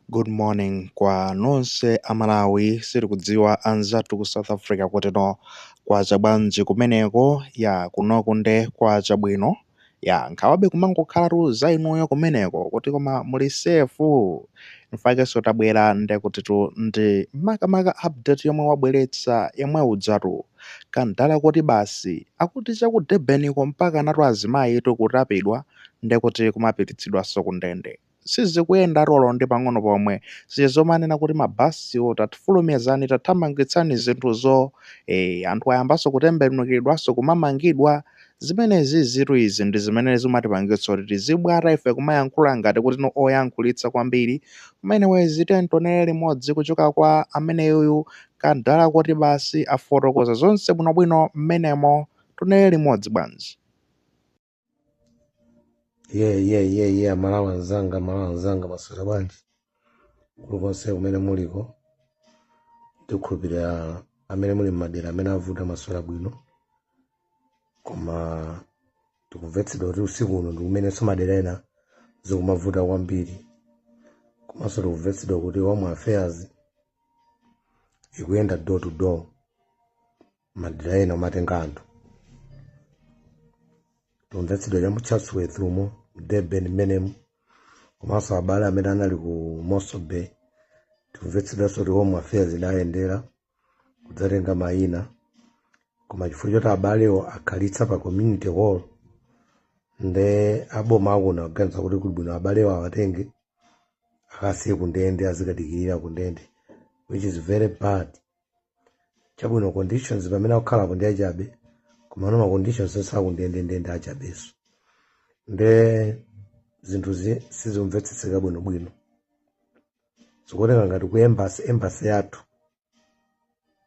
Good morning kwa nonse a Malawi siti kudziwa anzathu ku South Africa kutino kwacha bwanji kumeneko ya kunoku nde kwacha bwino ya nkhawabe kumangokhalatu za inuyo kumeneko kuti koma muli safe infakenso tabwera nde kutitu ndi makamaka update yomwe wabweretsa yemwe ujatu kadala koti basi akuti cha ku Durbaniko mpaka anatu azimayitu kutapidwa nde kuti kumapititsidwanso ku ndende sizikuyendatu olo ndi pang'ono pomwe. Zija zomanena kuti mabasiwo tafulumizani tathamangitsani zinthuzo, ee anthu ayambanso kutembenukiridwanso kumamangidwa. Zimenezizitu izi ndi zimene zimatipangitsa kuti tizibwata ife kumayankhula ngati kuti ndi oyankhulitsa kwambiri. Koma anyways tiyeni tionere limodzi kuchoka kwa ameneyuyu kadala koti basi afotokoza zonse bwinobwino mmenemo. Tionere limodzi bwanji. yeah, yeah, yeah, yeah. amalawi anzanga amalawi anzanga maswera bwanji kulikonse kumene muliko ndikukhulupirira amene muli mmadera amene avuta maswera bwino koma tikumvetsedwa kuti usiku uno ndikumenenso madera ena zikumavuta kwambiri komanso tikumvetsedwa kuti home affairs ikuyenda door to door madera ena kumatenga anthu tikumvetsedwa cha mu chatsworth umo mu durban mmenemu komanso abale amene anali ku mossel bay tikumvetsedwanso kuti home affairs inayendera kudzatenga mayina koma chifukwa choti abalewo akhalitsa pa community hall nde aboma akuna kuganiza kuti kuli bwino abalewo awatenge akasiye kundende azikadikirira kundende which is very bad chabwino conditions pamene akukhalapo ndi achabe komano ma conditions onse akundende ndi achabeso nde zinthuzi sizimvetsetseka bwinobwino zikuoneka ngati ku embassy embassy yathu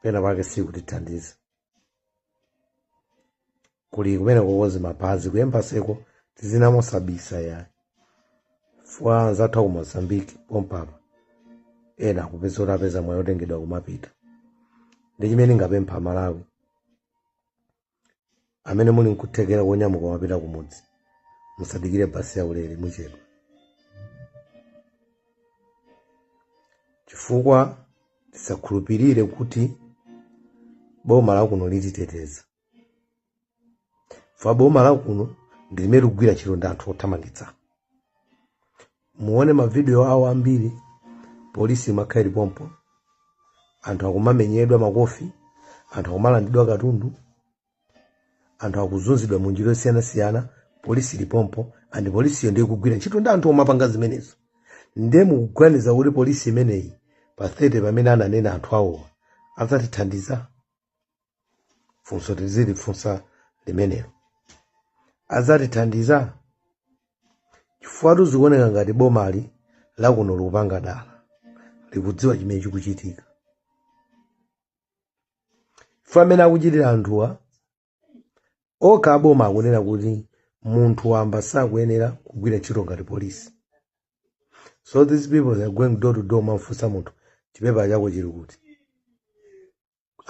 pena pake sikutithandiza kuli kumenya kukoka mapazi ku embassyko tizinena mosabisa ya chifukwa anzathu aku mozambique pompapa ena akupeza kuti apeza mwayi otengedwa kumapita ndi chimene ndingapemphe amalawi amene muli nkuthekera konyamuka kumapita kumudzi musadikire basi yaulere muchedwa chifukwa tisakhulupirire kuti boma lakuno lititeteza chifukwa boma lakuno ndi limene likugwira ntchito ndi anthu othamangitsa muone mavidiyo awo ambiri polisi imakhala ili pompo anthu akumamenyedwa makofi anthu akumalandidwa katundu anthu akuzunzidwa mu njira yosiyanasiyana polisi ilipompo and polisiyo ndi ikugwira ntchito ndi anthu omapanga zimenezo ndiye mukuganiza kuti polisi imeneyi pa 30 pamene ananena anthu awowa adzatithandiza funso tizilifunsa limenelo adzatithandiza chifukwatu zikuoneka ngati bomali lakuno likupanga dala likudziwa chimene chikuchitika ife amene akuchitira anthuwa okha aboma akunena kuti munthu wamba sakuyenera kugwira ntchito ngati polisi so these people they are going door to door kumamfunsa munthu chipepala chako chili kuti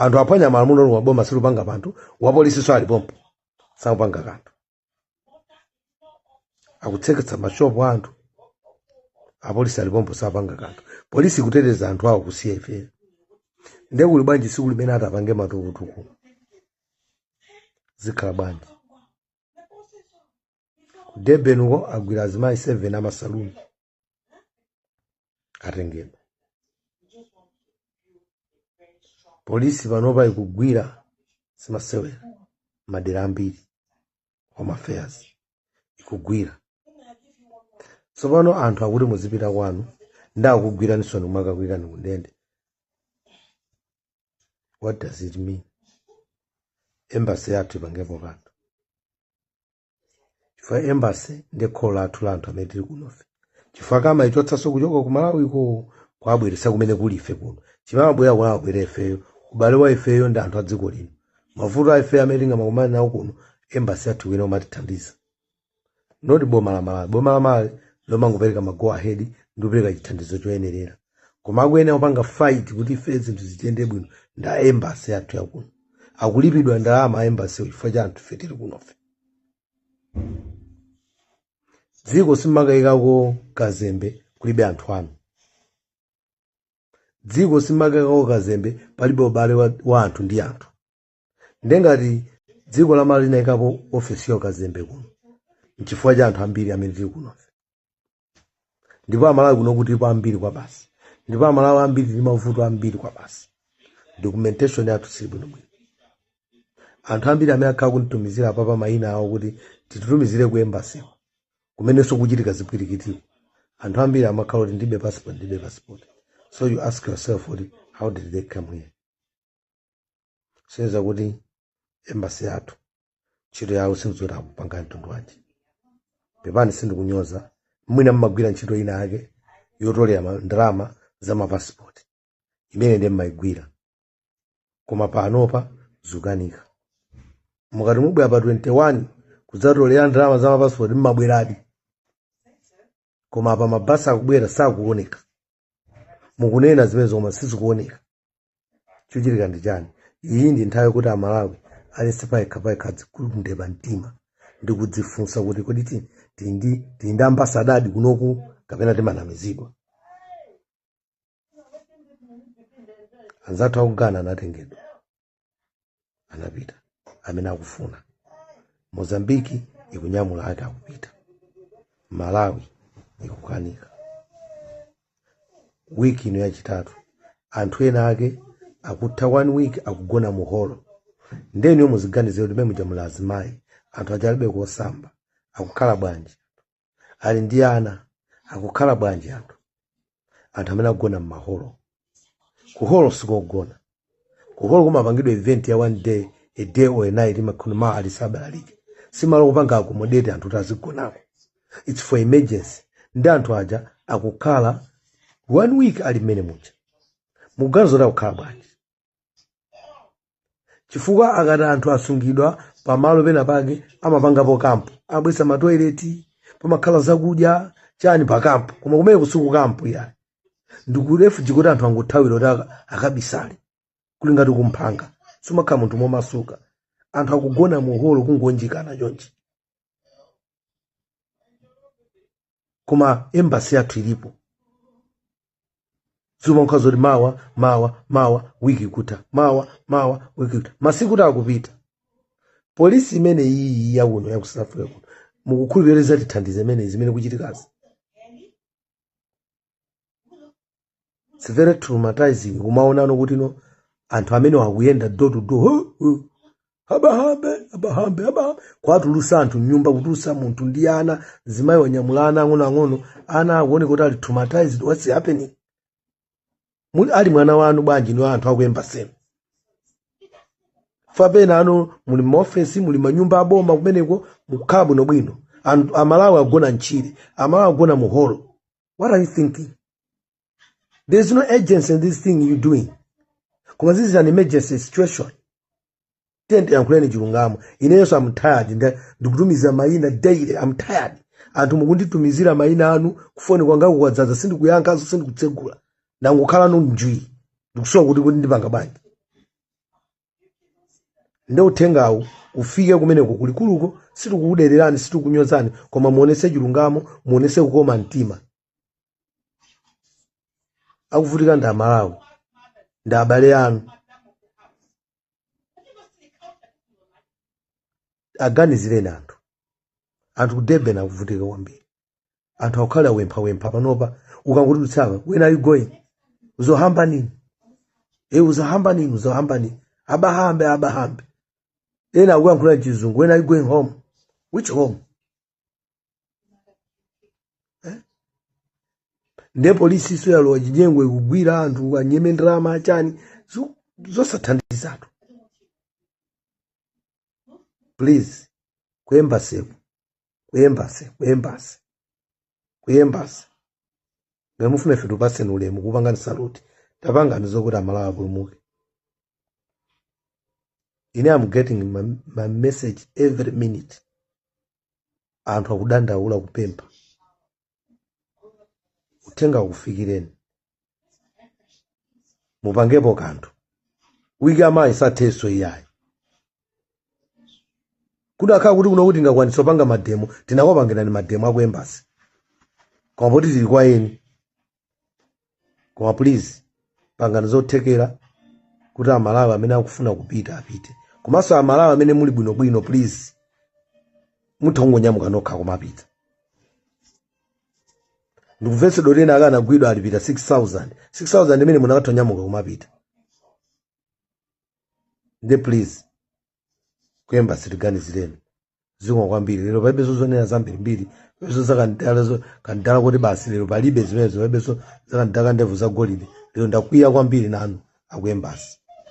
anthu aphwanya malamulo la boma silikupanga kanthu apolisinso alipompo sakupanga kanthu akutseketsa mashopu a anthu apolisi alipompo sakupanga kanthu polisi kuteteza anthu awo kusiya ife nde kuli bwanji siku limene atapanga matukutuku zikhala bwanji ku durban uko agwira azimayi 7 amasaluni atengedwa polisi panopa ikugwira si masewera madera ambiri home affairs ikugwira tsopano anthu akuti muzipita kwanu ndikugwiraninso kumakakuikani kundende what does it mean embassy yathu ipangepo kanthu chifukwa embassy ndi kholo lathu la anthu amene tili kunofe chifukwa amaichotsanso kuchoka ku malawiko kwabweretsa kumene kuli ife kuno chimabwera kwabwera ifeyo ubale wa ifeyo ndi anthu a dziko lino mavuto a ifeyo amene tingakumane nawo kuno embassy yathu ikuyenera kumatithandiza not boma la malawi boma la malawi lomangopereka mago ahead ndi kupereka chithandizo choyenerera koma akuyenera kupanga fight kuti ife zinthu zitiyende bwino nde a embassy yathu yakuno akulipidwa ndalama a embassy chifukwa cha anthu ife tili kunofe dziko simakayikako kazembe kulibe anthu anu dziko simakayikako kazembe palibe ubale wa, wa anthu ndi anthu nde ngati dziko la malawi linayikapo ofesi ya ukazembe kuno nchifukwa cha anthu ambiri amene tili kunofe ndipo amalawi kuno tilipo ambiri kwabasi ndipo amalawi ambiri ali ndi mavuto ambiri kwabasi documentation yathu sili bwinobwino anthu ambiri amene akhala akunditumizira apapa mayina awo kuti titumizire ku embassy ku kumenenso kukuchitika zipwirikitiko anthu ambiri amakhala kuti ndilibe passport ndilibe passport so you ask yourself kuti how did they come here sonyeza kuti embasi yathu ntchito yawo sindiziwa akupanga mtundu wanji pepani sindikunyoza mwina mmagwira ntchito ina yake yotolera ma- ndalama za mapasipoti imene ndiye mmayigwira koma panopa zukanika mukati mubwera pa 21 kudzatolera ndalama za mapasipoti mmabweradi koma pa mabasi akubwera sakuoneka mukunena zimenezo koma sizikuoneka chochitika ndi chani iyi ndi nthawi yokuti amalawi aliyense payekha payekha adzigugude pamtima ndi kudzifunsa kuti kodi ti- tili ndi tili ndi ambasadadi kunoku kapena timanamizidwa anzathu aku ghana anatengedwa anapita amene akufuna mozambiki ikunyamula ake akupita malawi ikukanika wiki ino yachitatu anthu ena ake akutha one week akugona mu holo nde inuyo muziganizira kuti mmemuja muli azimayi anthu aja alibe kosamba akukhala bwanji ali ndi ana akukhala bwanji anthu anthu amene akugona m'maholo kuholo sikogona kuholo kumapangidwa event ya one day a day or a night imakhuna ma alisabalalike simalo kupanga accommodate anthu kuti azigonako its for emergency ndi anthu aja akukhala one week ali mmene muja mukuganiza kuti akukhala bwanji chifukwa akati anthu asungidwa pamalo pena pake amapangapo kampu amabweretsa matoileti pamakhala zakudya chani pa kampu koma kumeneku si ku kampu yayi ndi ku refuge kuti anthu angothawira kuti aka- akabisale kuli ngati kumphanga sumakhala munthu momasuka anthu akugona muholo kungounjikana chonchi koma embasi yathu ilipo zimakhala zoti mawa mawa mawa wiki kutha mawa mawa wiki kutha masiku akupita polisi imene iyi ya kuno ya ku south africa kuno mukukhulupirira izatithandiza imeneyi zimene zikuchitikazi It's very traumatizing kumaonano kuti no anthu amenewa akuyenda door to door huh, huh. abahambe abahambe abahambe kuwatulusa anthu mnyumba kutulusa munthu ndi ana mzimayi wanyamula ana ang'onoang'ono ana akuoneka kuti ali traumatized what's happening muli ali mwana wanu bwanji inu anthu aku embasi kapena ano muli m'maofesi muli m'manyumba aboma kumeneko mukhala bwinobwino Anthu- amalawi agona mtchire amalawi agona muholo what are you thinking there is no urgency in this thing you're doing koma this is an emergency situation tiyeni yankhulani chilungamo inenso am tired nda- ndikutumiza mayina daily am tired anthu mukunditumizira mayina anu kufoni kwangaku kwadzaza sindikuyankhanso sindikutsegula ndangokhala njwii ndikusowa kuti kuti ndipanga bwanji nde uthengawu ufike kumeneko kulikuluko sitikukudererani sitikukunyozani koma muonetse chilungamo muonetse kukoma mtima akuvutika ndi amalawi ndi abale anu aganizireni anthu anthu ku durban akuvutika kwambiri anthu akukhala opemphapempha panopa ukangotuluka apa when are you going uzohamba nini e uzohamba nini uzohamba nini abahambe abahambe ena akuyankhula mchizungu when are you going home which home nde polisi iyo yalowa chinyengo ikugwira anthu kunyema ndalama achani zo- zosathandizatu please kuembassyko kuembassy kuembassy kuembassy ngati mufuna ife tupaseni ulemu kupangani saluti tapangani zokuti amalawi apulumuke ine am getting my, my message every minute anthu akudandaula kupempha uthenga ukufikireni mupangepo kanthu wiki ya mawa isathenso iyayi kudakakhala kuti kuno kuti tingakwanitse opanga mademo tinakopangirani mademo aku embassy koma poti tili kwa eni koma please pangani zothekera kuti amalawi amene akufuna kupita apite komanso amalawi amene muli bwinobwino please mutha kungonyamuka nokha kumapita ndikumvetsedwa oti ena akanagwidwa alipita 6000 6000 imene munakatha kunyamuka kumapita nde please kuembassy tiganizireni zikomo kwambiri lero palibe zozonena zambiri mbiri palibenso zakandala zo- kandala kuti basi lero palibe zimenezo palibenso zakandala kandevu za golide lero ndakwiya kwambiri nanu akuembassy